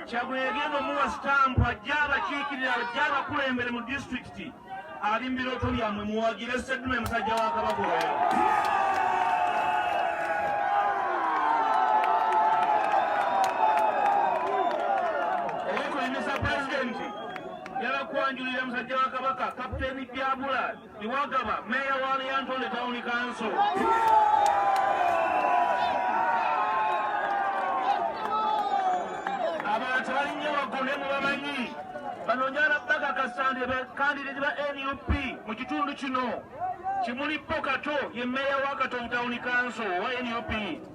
kyagula egenda omuwa sitampu ajja abakiikirira ajja abakulembere mu disitulikiti ali mu birooto byammwe muwagire seddume musajja wa kabaka oyo okulembesa pulezidenti yabakwanjulira musajja wa kabaka kapiteeni byabula Iwagaba, Mayor wa Lyantonde Town Council. Abantu balinye bagone mu bamanyi banonyala baga kasande be kandidati ba NUP mu kitundu kino Kimuli Pokato ye Mayor wa Katonda Town Council wa NUP.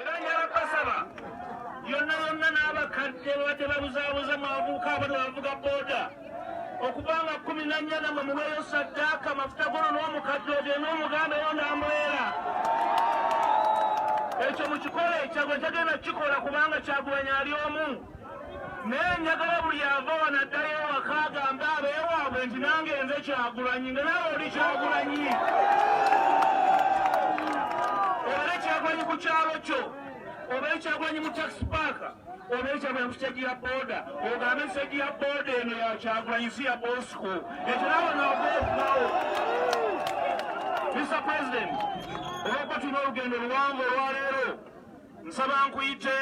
era njala basaba yonna yonna n'abakadde babadde babuzaabuza mu abavubuka abali bavuga booda okuva nga kumi na nnya namwe muweeyo saddaaka amafuta gono n'omukadde ogye n'omuganda yo ndambeera ekyo mukikole ekyagwe tagenda kukikola kubanga kyagulanyi ali omu naye njagala buli ava wano addayo ewaka agambe abeewaabwe nti nange nze kyagulanyi nga nawe oli kyagulanyi obale kyagulanyi ku kyalo kyo oba ekyagulanyi mu taxi paaka oba ekyagulanyi ku siteegi ya booda ogambe siteegi ya booda eno ya kyagulanyi si ya bosco ekyo nawe naogaokubawo mr president olwokuba tulina olugendo luwanvu olwaleero nsaba nkuyite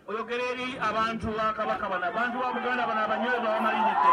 oyogera eri abantu ba kabaka bano abantu ba buganda bano abanyoyo babamalirize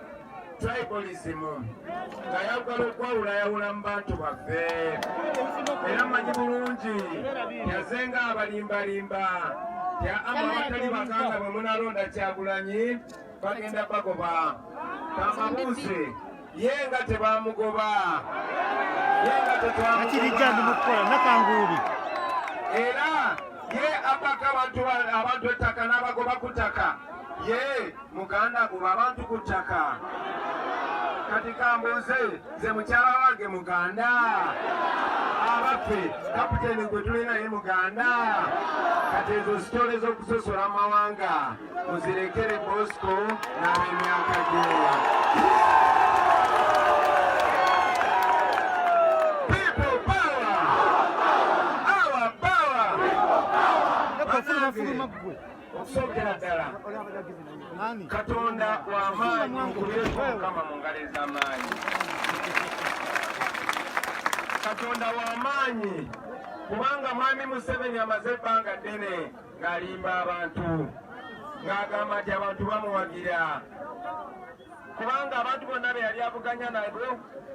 tribalism nga yagala okwawula yawula mu bantu baffe era manyi bulungi yaze nga abalimbalimba ya ama abatali bakanga bwe munalonda kyagulanyi bagenda bagoba kamabuuzi ye nga tebamugoba ye nga tetwamugoba era ye abaka abantu abantu ettaka n'abagoba ku ttaka ye muganda guba abantu ku ttaka kati kambuuze nze mukyala wange muganda abaffe kapiteeni gwe tulinaye muganda kati ezo sitole z'okusosola amawanga muzirekere bosco n'ab'emyaka gyewa okusookera ddala katonda w'amaanyi nkubyeko mukama mu ngalo ez'amaanyi katonda w'amaanyi kubanga mwami museveni amaze ebbanga ddene ng'alimba abantu ng'agamba nti abantu bamuwagira kubanga abantu bonna be yali avuganya nabo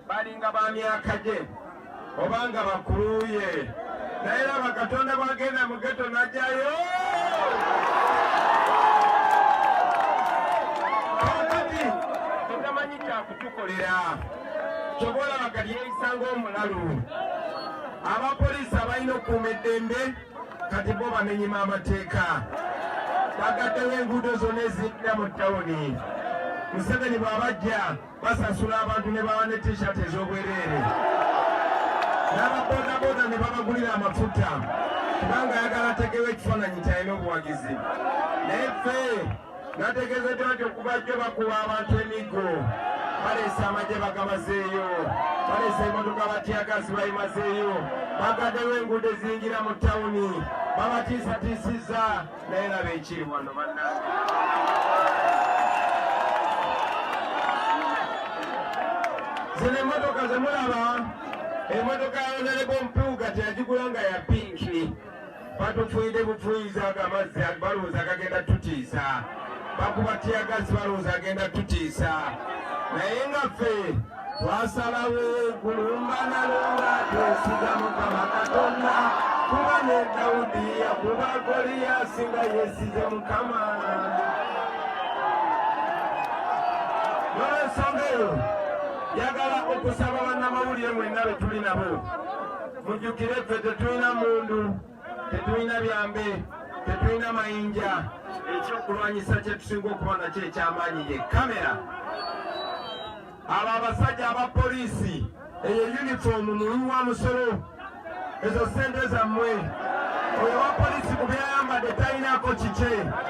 balinga ba myaka gye obanga bakuluye naye laba katonda bwagenda mu geto najjayo kakati tutamanyi kyakutukolera kyoba olaba kati yeyisa ng'omulalu abapoliisi abalina okukuuma eddembe kati bo bamenyima amateeka bagaddewo enguudo zonna ezidda mu tawuni museveni bw'abajja basasula abantu ne bawa ne tishat ez'obwereere n'ababodaboda ne babagulira amafuta kubanga ayagala ategewo ekifaananyi kyalina obuwagizi naye ffe Nategeezeddwa nti okuva jjo bakuwa abantu emiggo baleese amagye bagabazeeyo baleese emotoka batyagazi bayimazeeyo bagaddewo enguudo eziyingira mu tawuni babatiisatiisizza naye laba ekiri wano bannange zino emotoka zemulaba emotoka ya onerebo mpuuga teyagigula nga ya pinki batufuyide bufuyiza ago amazzi balowooza agagenda tutiisa bakuba tiyagasi balowooza agenda tutiisa naye nga ffe twasalawo kulumbanalumba twesiga mukama katonda kuba ne dawudi yakuba goliyasi nga yesize mukama nolwensonga eyo yagala okusaba bannamawulire mwenna be tuli nabo mujjukire ffe tetulina mundu tetulina byambe tetulina mayinja ekyokulwanyisa kyetusinga okuba nakyo ekyamaanyi ye kamera abo abasajja aba poliisi eyo yunifoomu muwi wa musolo ezo sente zammwe oyo wa poliisi ku byayambadde talinako kikye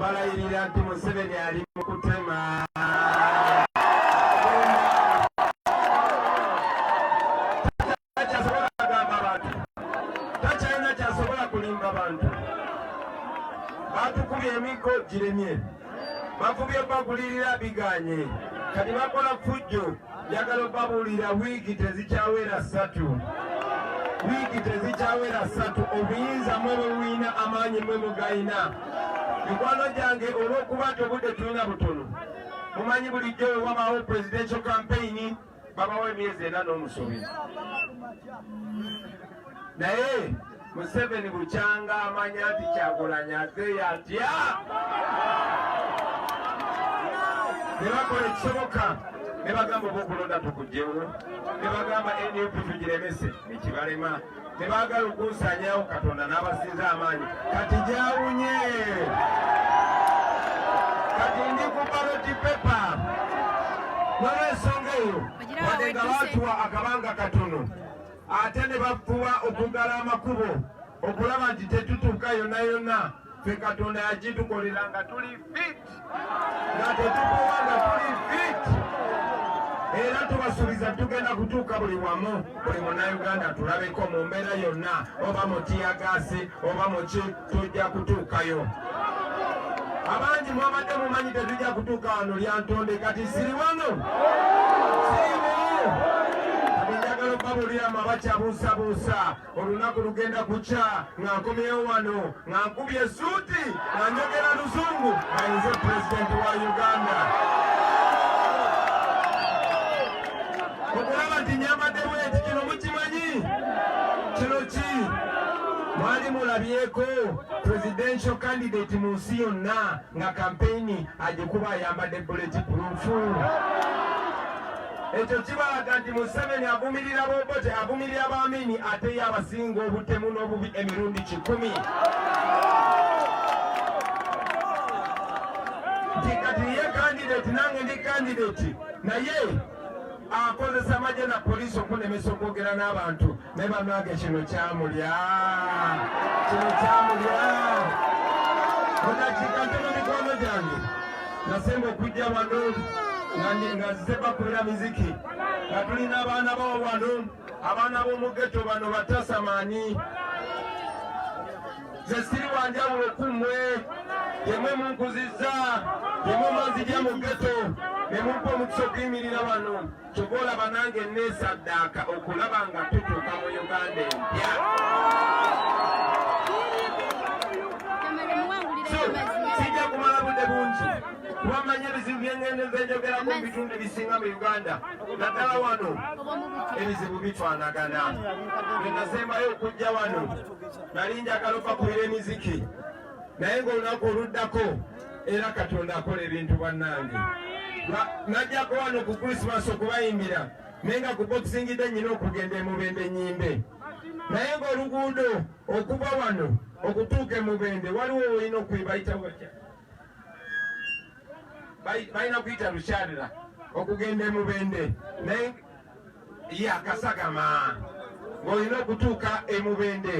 balayirira nti Museveni ali mu kutema bakubye emiggo giremye bakubye bagulirira biganye kati bakola fujjo Njagala okubabuulira wiiki tezikyawera ssatu wiiki tezikyawera ssatu obuyinza mwe bwewuyina amaanyi mwe mugayina mikwano gyange olw'okuba nti obudde tulina butono mumanyi bulijjo wewabawo presidential campaign babawo emyezi ena n'omusuubizi naye Museveni bukyanga amanya nti Kyagulanyi azeeyo atya ne bakola ekisoboka ne bagamba oba okulonda tukugyewo ne bagamba nup tugiremese nekibalema ne baagala okunsanyawo katonda n'abasinza amaanyi kati gyawunye kati ndi ku baloti pepa nolwensonga eyo wadde nga baatuwa akabanga katono ate ne bafuba okuggala amakubo okulaba nti tetutuuka yonna yonna ffe katonda yagitukolera nga tuli fit nga tetukuwa nga tuli fit era tubasuubiza tugenda kutuuka buli wamu buli munauganda tulabeko mu mbeera yonna oba mu tiyagaasi oba muki tujja kutuukayo abangi mwabadde mumanyi tetujja kutuuka wano lyantonde kati siri wano njagala okubabuuliramu abakyabuusabuusa olunaku lugenda kukya nga nkomyewo wano nga nkubye esuuti nga njogera luzungu ayinze pulezidenti wa uganda okulaba nti nyambadde bweti kino mukimanyi kino ki Mwali mulabyeko presidential candidate mu nsi yonna nga kampeyini agikuba ayambadde buleti purufu. Ekyo kibalaga nti Museveni avumirira Bobote, avumirira Bamini ate ye abasinga obutemu n'obubi emirundi kikumi. Nti kati ye kandidate nange ndi kandidate naye akozesa amagye na poliisi okunemesa okwogera n'abantu naye banange kino kyamulya kino kyamulya mudakiika ntono mikwano gyange nasemba okujja wano nga nzize bakolera miziki nga tulina abaana bawo wano abaana b'omugeto bano batasamaani nze siri wanjawulo ku mmwe yemwe munkuzizza yemwe mwanzija mu geto ne mumpa omukisa okuyimirira wano kyova olaba nange neesaddaaka okulaba nga tutuuka mu uganda empya sijja kumala budde bungi kuba mmanyi ebizibu byengendenza enjogerako mu bitundu ebisinga mu uganda naddala wano ebizibu bitwanagana bwe nasembayo okujja wano nali njagala okubakubira emiziki naye ng'olunaku oluddako era katonda akola ebintu bannange najjako wano ku krisimaasi okubayimbira naye nga ku bokisingidde nnyina okugenda emubende nyimbe naye ng'oluguudo okuva wano okutuuka emubende waliwo olina okubayita watya balina kuyita lukyalira okugenda emubende naye ye akasagama ng'olina okutuuka emubende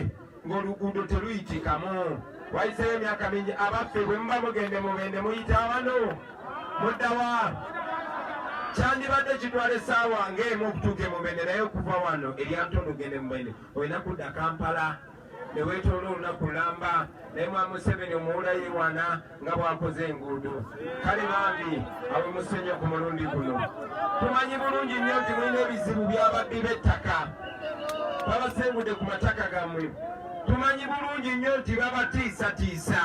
ng'oluguudo teruyitikamu wayiseeyo emyaka mingi abaffe bwe muba mugenda emubende muyita wano muddawa kyandibadde kitwala essaawa ng'emu okutuuka emubende naye okuva wano eryantondo ogenda emubende olina kudda kampala neweetoola olunaku lamba naye mwa museveni omuwula yewana nga bwakoze enguudo kale bambi awe musenya ku mulundi guno tumanyi bulungi nnyo nti mulina ebizibu byababbi b'ettaka babasengudde ku mataka gammwe tumanyi bulungi nnyo nti babatiisatiisa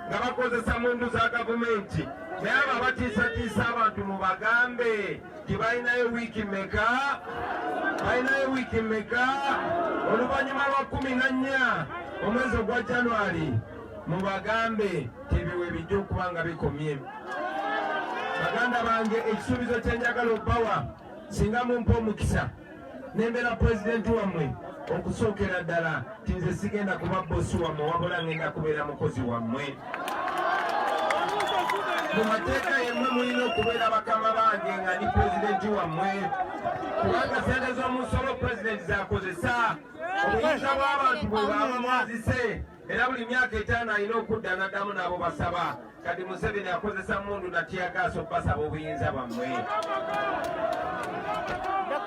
nga bakozesa mundu za gavumenti naye abo abatiisatiisa abantu mubagambe tibalinayo wiiki meka balinayo wiiki meka oluvannyuma lwa kumi na nnya omwezi ogwa januari mubagambe tebiwe bijja okuba nga bikomye baganda bange ekisuubizo kyenjagala obbawa singa mumpa omukisa nembera pulezidenti wammwe okusookera ddala ti nze sigenda kuba bosi wammwe wabula ngenda kubeera mukozi wammwe mu mateeka yemmwe mulina okubeera bakama bange nga ndi pulezidenti wammwe kubanga sente z'omusolo pulezidenti zakozesa obuyinza bw'abantu bwe baaba mwazise era buli myaka etaano alina okudda naddamu n'abo basaba kati museveni akozesa mundu natiyagaaso okubasaba obuyinza bwammwe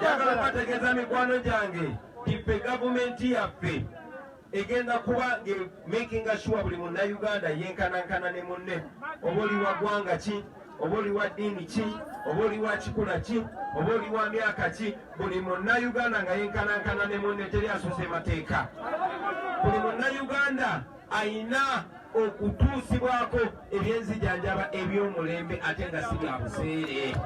njagala bategeeza mikwano gyange tife gavumenti yaffe egenda kuba makinga sure buli munnayuganda yenkanankana ne munne oba oli wa ggwanga ki oba oli wa ddiini ki oba oli wa kikula ki oba oli wa myaka ki buli munnayuganda nga yenkanankana ne munne teri asuusa emateeka buli munnayuganda ayina okutuusibwako ebyenzijanjaba eby'omulembe ate nga si bya buseere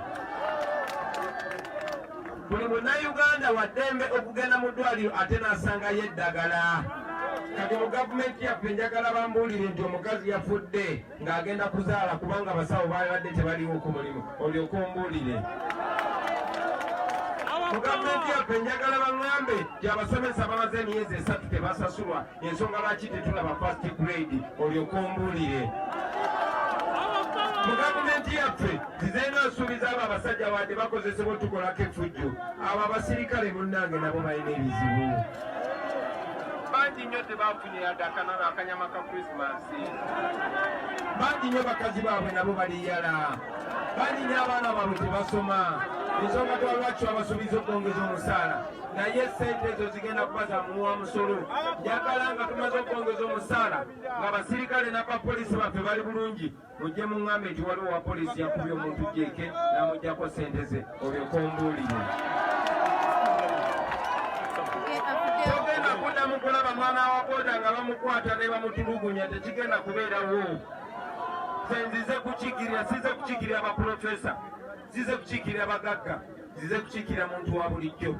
buli munnayuganda waddembe okugenda mu ddwaliro ate n'asangayo eddagala kati mu gavumenti yaffe njagala bambuulire nti omukazi yafudde ng'agenda kuzaala kubanga abasawo baabadde tebaliwo ku mulimu olyoka ombuulire mu gavumenti yaffe njagala baŋŋambe nti abasomesa bamaze emyezi esatu tebasasulwa ensonga lwaki tetulaba fast grade olyoka ombuulire mu gavumenti yaffe zizeena nsuubiza abo abasajja wadde bakozesebwa otukolako efujjo abo abasirikale munnange nabo balina ebizibu bangi nnyo bangi nyo bakazi baabwe nabo baliyala bangi nyo abaana baabwe tebasoma ensonga twalwaki twabasuubiza okwongeza omusaala naye sente ezo zigenda kuba za muwa musolo njagala nga tumaze okwongeza omusaala nga basirikale nabapoliisi baffe bali bulungi mujje muŋŋambe nti waliwo wa poliisi yakubye omuntu jeeke n'amugyako ssente ze obyo kombuulire togenda kuddamu kulaba mwana wa boda nga bamukwata ne bamutulugunya tekigenda kubeerawo senzize kukigirira size kukigirira bapulofesa zize kukiikirira bagagga zize kukiikirira muntu wa bulijjo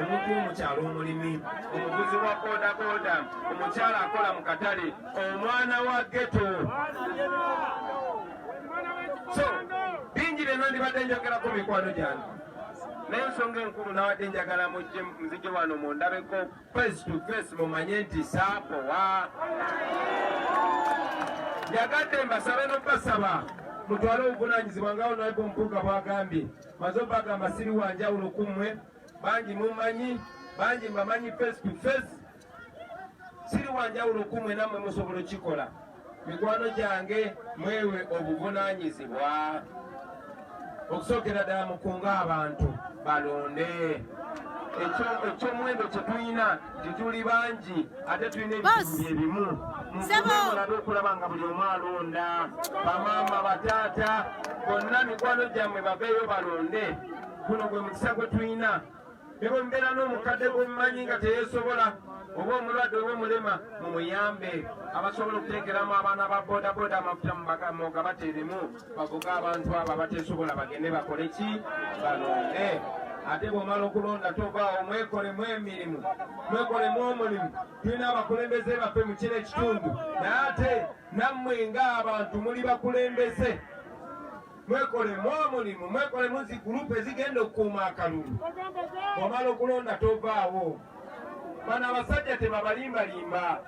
omuntu omukyalo omulimi omuguzi wa bodaboda omukyala akola mu katale omwana wa geto so bingi byonna ndibadde njogerako mikwano gyange naye ensonga enkulu nawadde njagala mujje muzije wano mundabeko face to face mumanye nti saakowa yagadde mbasabe nokubasaba mutwale obuvunanyizibwa nga onaiba omukuga bwagambye maze obagamba siri wanjawulo ku mmwe bangi mumanyi bangi mbamanyi face to face siri wanjawulo ku mmwe nammwe musobola okukikola mikwano gyange mwewe obuvunanyizibwa okusookera ddala mukunga abantu balonde ekyomuwendo kyetulina tetuli bangi ate tulina ebitundu ebimu mulabe okulaba nga buli omu alonda bamaama bataata bonna mikwano gyammwe baveeyo balonde guno gwe mukisa gwe tulina ne bwe mubeera n'omukadde gw'omumanyi nga teyeesobola oba omulwadde oba omulema mumuyambe abasobola okuteekeramu abaana ba bodaboda amafuta mubamoga bateremu bavuga abantu abo abateesobola bagende bakole ki balonde ate bwomala okulonda tovaawo mwekolemu emirimu mwekolemu omulimu tulina abakulembeze baffe mu kino ekitundu naye ate nammwe ng'abantu muli bakulembeze mwekolemu omulimu mwekolemu zi gurupu ezigenda okukuuma akalulu omala okulonda tovaawo bano abasajja tebabalimbalimba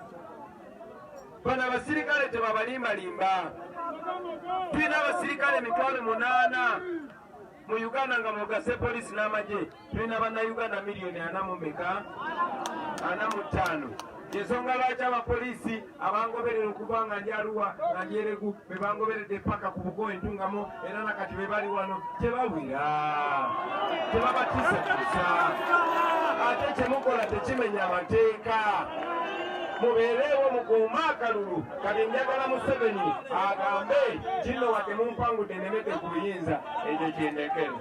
bano abasirikale tebabalimbalimba tulina abasirikale emitwalo munaana mu uganda nga mugase polisi n'amagye tulina bannayuganda miliyoni ana mu meka ana mu ttaano ensonga lwaki abapoliisi abangoberera okuva nga ndi aluwa nga ndi eregu be bangoberedde paka ku bugo entungamo era nakati be bali wano tebawira tebabatisatusa ate kyemukola tekimenya amateeka mubeereewo mukuuma akalulu kati njagala museveni agambe kino wadde mumpangude nemete ku buyinza ekyo kyendekero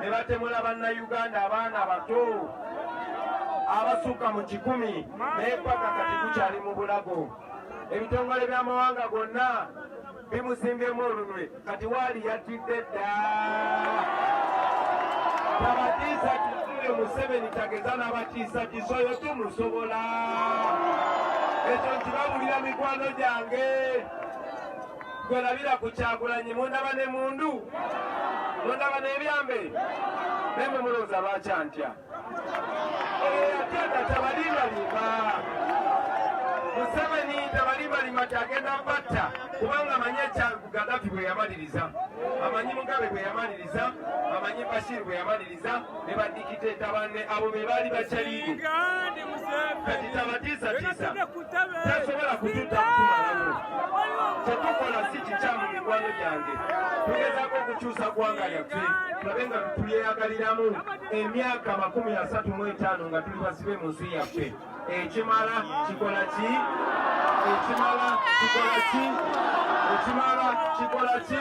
ne batemula bannayuganda abaana abato abasukka mu kikumi naye paka kati gukyali mu bulago ebitongole by'amawanga gonna bimusimbyemu olunwe kati waali yattidde dda tabatiisa kitule museveni tageza n'abatiisa kisoyo tumusobola ekyo nkibabulira mikwano gyange Gwe labira ku Kyagulanyi mundaba ne mundu mundaba n'ebyambe naye mwe mulowooza lwaki antya oyo yatyata tabalimbalimba Museveni tabalimbalimba kyagenda batta kubanga amanyi ekya Gaddafi bwe yamaliriza amanyi Mugabe bwe yamaliriza amanyi Bashir bwe yamaliriza ne badikiteeta banne abo be baali bakyaliigo kati tabatiisatiisa tasobola kututa kutumalamu kyetukola si kikyamu mikwano gyange tugezaako okukyusa ggwanga lyaffe tulabe nga tulyeyagaliramu emyaka makumi asatu mu etaano nga tuli basibe mu nsi yaffe ekimala kikola ki ekimala kikola ki ekimala kikola ki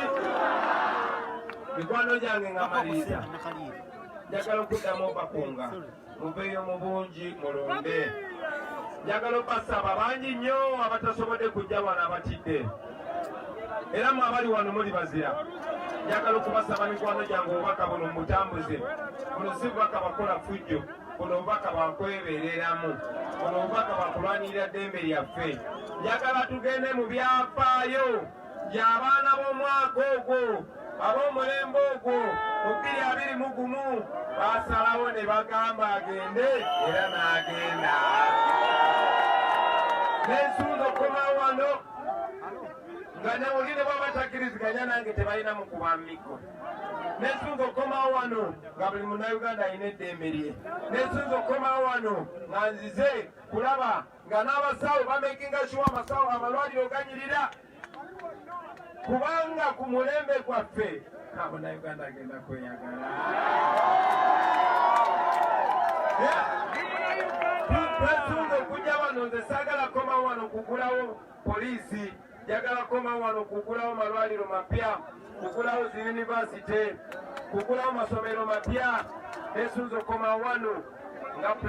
mikwano gyange nga maliriza njagala okuddamu obakunga muveeyo mu bungi mulonde njagala obasaba bangi nnyo abatasobodde kujja wano abatidde era mwe abali wano muli bazira njagala okubasaba mikwano gyange obubaka buno mubutambuze buno si bubaka bakola fujjo buno obubaka bwakwebereramu buno obubaka bwakulwanirira ddembe lyaffe njagala tugende mu byafaayo by'abaana b'omwaka ogwo ab'omulembe ogwo mu bbiri abiri mu gumu baasalawo ne bagamba agende era n'agenda n'ensunza okukomawo wano nga newuli ne baba takiriziganya nange tebalina mu kuba miko nesunza okukomawo wano nga buli munauganda alina eddembe lye nesunza okukomawo wano nga nzize kulaba nga n'abasawo bamekinga kiwa amasawo amalwaliro ganyirira kubanga ku mulembe gwaffe kabona uganda agenda kweyagala twesunga okujja wano nze saagala koma wano kugulawo poliisi njagala koma wano kugulawo malwaliro mapya kugulawo zi yunivasite kugulawo masomero mapya nesunza okoma wano nga